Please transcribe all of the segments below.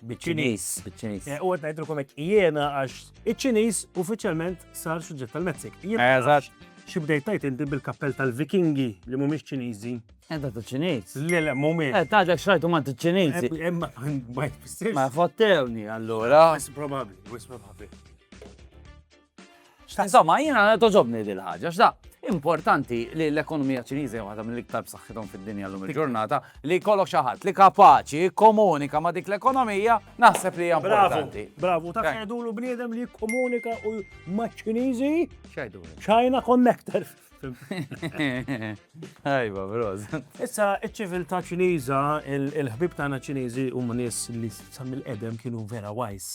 Biċ-Ċiniż. Biċ-Ċiniż. Eh, u għet najdru komek jena għax iċ-Ċiniż uffiċjalment sar suġġett tal-Meksik. Eżatt. Xi bdejt tajt inti bil-kappell tal-Vikingi li mhumiex Ċiniżi. Enta eh, tal-Ċiniż. Le le mhumiex. Eh taġek xrajtu ma tal-Ċiniżi. Eh, imma ma jfissirx. Ma fottewni allura. Wis probabbli, wis probabbli. Insomma, jiena toġobni dil ħaġa x'da importanti li l-ekonomija ċiniża waħda mill-iktar b'saħħithom fid-dinja llum il-ġurnata li jkollok xi ħadd li kapaċi komunika ma' dik l-ekonomija naħseb li hija importanti. Bravu, ta' jgħidulu bniedem li jikkomunika u maċ-Ċiniżi. X'għidu? China Connector. Ajba, broz. Issa, iċ-ċiviltà ċiniża, il-ħbib tagħna ċiniżi huma nies li sa mill-qedem kienu vera wajs.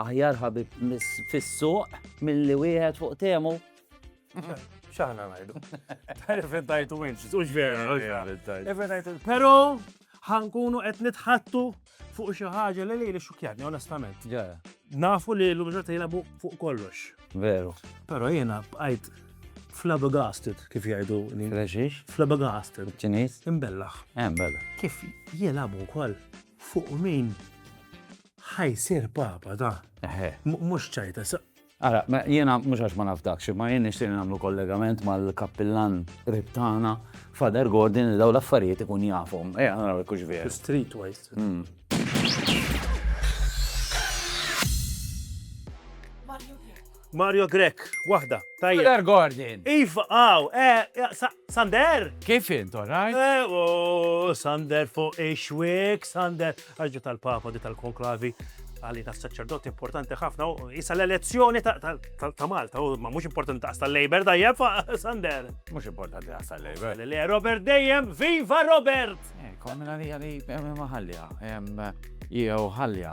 Aħjar ħabib fis-suq milli wieħed fuq temu. X'aħna ngħidu. Tarif intajtu inċ, u vera. Però ħankunu qed nitħattu fuq xi ħaġa li li xukjatni onestament. Nafu li l-mġorta jilabu fuq kollox. Veru. Però jiena bqajt flabbergasted kif jgħidu. Reġiex? Flabbergasted. Ċiniż? Imbellaħ. Eh, imbellaħ. Kif jilabu wkoll fuq min Ħa jsir Papa da. Eħe. Mhux ċajta sa. Ara, jiena mhux għax ma nafdakx, imma jien nixtieq li nagħmlu kollegament mal-kappillan qrib tagħna, Father Gordon, li dawn l-affarijiet ikun jafhom. Ejja naraw jekk hux veru. Streetwise. Mario Grech, waħda, tajjeb. Tyler Gordon. Iva, aw, eh, Sander? Kif int, all right? Eh, oh, Sander fuq ix-xwiek, Sander. Għax ġiet tal-Papa, ġiet tal-Konklavi għalli ta' saċerdoti importanti ħafna, u jisa l-elezzjoni ta' Malta, u ma' mux importanti ta' l-Labor, da' jef, Sander. Mux importanti ta' l-Labor. Le, Robert dejjem, viva Robert! Eh, Konna li għalli, eh, maħallja, jew ħallja,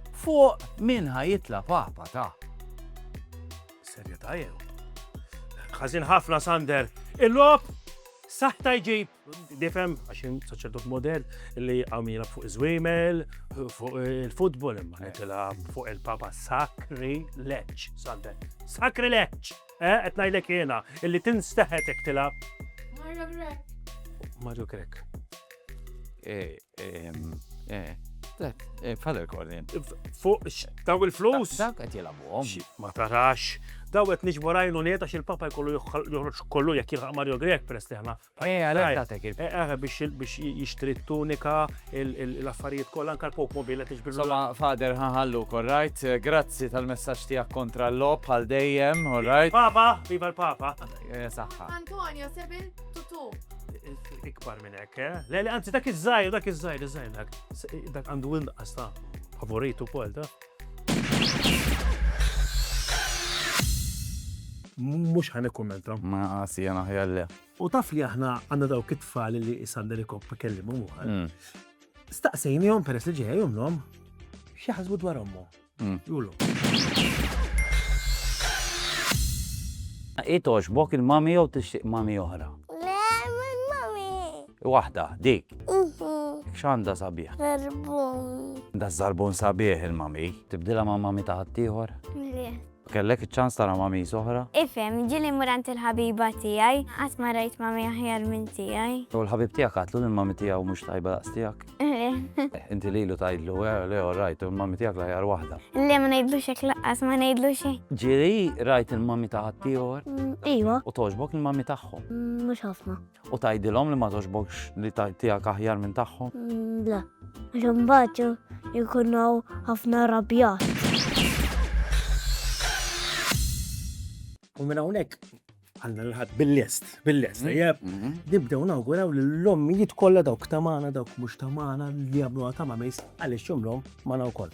Fuq min ħa jitla papa ta. Serjeta jew. Ħażin ħafna Sander. Il-lob saħta jġib difem għaxin saċerdot model li għamila fuq iż-żwiemel, fuq il-futbol imma nitila fuq il-papa sakri leċ, Sander. Sakri leċ! Eh, qed ngħidlek jiena illi tinsteħet jekk tilab. Mario Grek. Mario Grek. Eh, Dak, bħal il-kornin. Fuq, daw il-flus? Dak qed jilagħbuhom. Ma tarax. Daw qed niġbu rajlu neta xi l-papa jkollu joħroġ kollu jekk jilħaq Mario Grek peress li aħna. Eh, għalhekk tagħtek il. Eh, eh, biex jixtri t-tunika, l-affarijiet kollha anke l-pop mobile qed iġbir. Soma fader ħaħallu korrajt, grazzi tal-messaġġ tiegħek kontra l-lob għal dejjem, alright. Papa, viva l-papa. Saħħa. Antonio, sebil tutu. Ikbar Minn hekk, eh? Le, le, anzi, dak iż-żgħir, dak iż-żgħir, iż-żgħir dak. Dak għandu inqas ta' favorit ukoll ta'. Mhux ħan ikkummenta. Ma għasi jena ħjar le. U taf li aħna għandna dawk it-tfal li Sander Ikop kellimhom uħal. Mm. Staqsejnihom peress li ġejja jumlhom x'jaħsbu dwar ommu. Hi togħġbok il-mummy jew tixtieq mummy oħra? Le, mummy. Waħda, dik. X'għandha sabiħ? Żarbun. Da żarbun sabiħ il-mummy. Tibdilha ma' mummy ta' ħaddieħor? Le. Kellek iċ-ċans tara mamis oħra? Ifhem, ġieli mmur għand il-ħabiba tiegħi. Qatt ma rajt mami aħjar minn tiegħi. U l-ħabib tiegħek għadtlu li l-mami tiegħu mhux tajba daqs tiegħek? Le. Inti lilu tgħidlu, eh, le all right, u l-mami tiegħek l-aħjar waħda. Le ma ngħidlux hekk lanqas, ma ngħidlux hekk. Ġieli rajt il-mami ta' ħaddieħor? Ijwa. U togħġbok il-mami tagħhom? Mhux ħafna. U tgħidilhom li ma togħġbokx li tiegħek aħjar minn tagħhom? Le, għax imbagħad ikun hawn ħafna rrabjat. U minn hawnhekk għandna l-ħadd bil-lest, bil-lest, mm-hmm. jeb, mm-hmm. nibdew nawguraw li l-ommijiet kollha dawk tamana, dawk mhux tamana li jagħmluha ta' ma' għaliex jumlhom ma' wkoll.